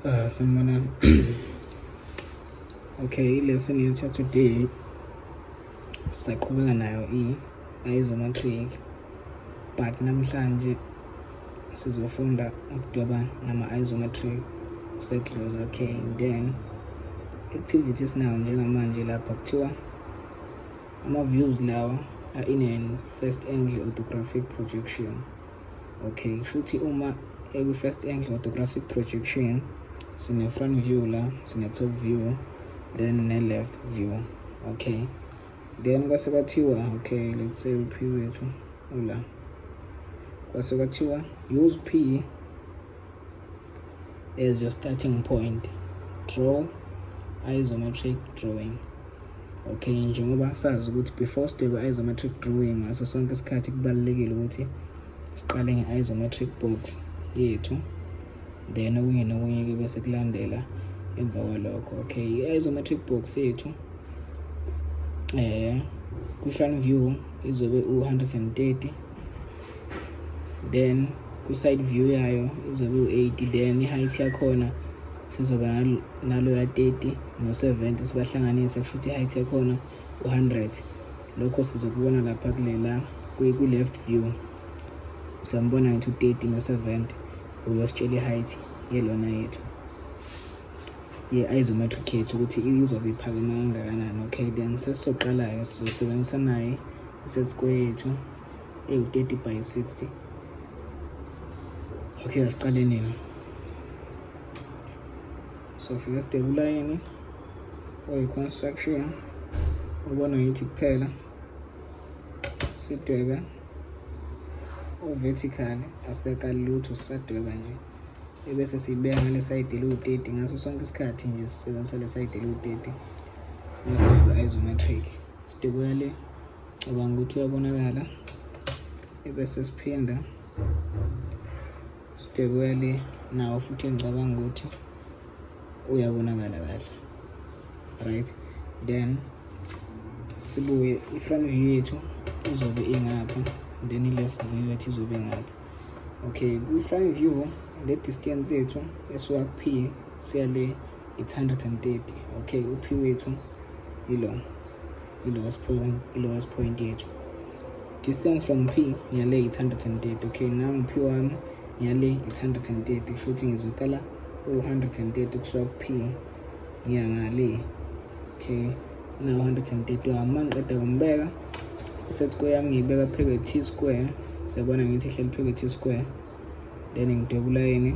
uh, sanibonani okay lesson yethu today sisaqhubeka nayo i isometric but namhlanje sizofunda ukudoba nama isometric circles okay then activity esinayo njengamanje lapha kuthiwa ama-views lawa are in an first angle orthographic projection okay shuthi uma ekwi first angle orthographic projection sine front view la sine top view then ne left view okay then kwase kwathiwa okay let's say u p wethu ula kwase kwathiwa use p as your starting point draw isometric drawing okay njengoba sazi ukuthi before sidweba isometric drawing ngaso sonke isikhathi kubalulekile ukuthi siqale nge-isometric box yethu then okunye nokunye ke bese kulandela emva kwalokho okay i-isometric box yethu eh kwi-front view izobe u-130 then kwi-side view yayo izobe u-80 then i-height yakhona sizoba naloya 30 no-70 sibahlanganise kusho ukuthi i-height yakhona u-100 lokho sizokubona lapha kulela kwi-left view siyambona ngithi u-30 no-70 uyositshela i-height yelona yethu ye-isometric yethu ukuthi izobe iphakeme kangakanani okay then sesizoqala-ke sizosebenzisa naye iset square yethu ewu 30 by 60 okay asiqale nini so fika sidebe ulayini oyi-construction ubona ngithi kuphela sidwebe uvertical asikakali lutho sisadweba nje ebese siyibeka ngale sayidi eliwu-30 ngaso sonke isikhathi nje sisebenzisa le sayidi eliwu-30 isometric sidwebela le cabanga ukuthi uyabonakala ebese siphinda sibhekuya le nawo futhi engicabanga ukuthi uyabonakala kahle right then sibuye i-front view yethu izobe ingapha then i-left view yethu izobe ngapha okay kwi-front view le distance yethu esuka kuphi siya le it's 130 okay uphi wethu ilo i-lowest point i-lowest point yethu distance from p ngiyale it's 130 okay nangu p wami ngiyale it's 130 kusho ukuthi ngizokala u-130 kusuka ku-p ngiya ngale okay na 130 wami uma ngiqeda kumbeka iset square yami ngiyibeka pheke t square siyabona ngithi ihleli pheke t square then ngidwebula yini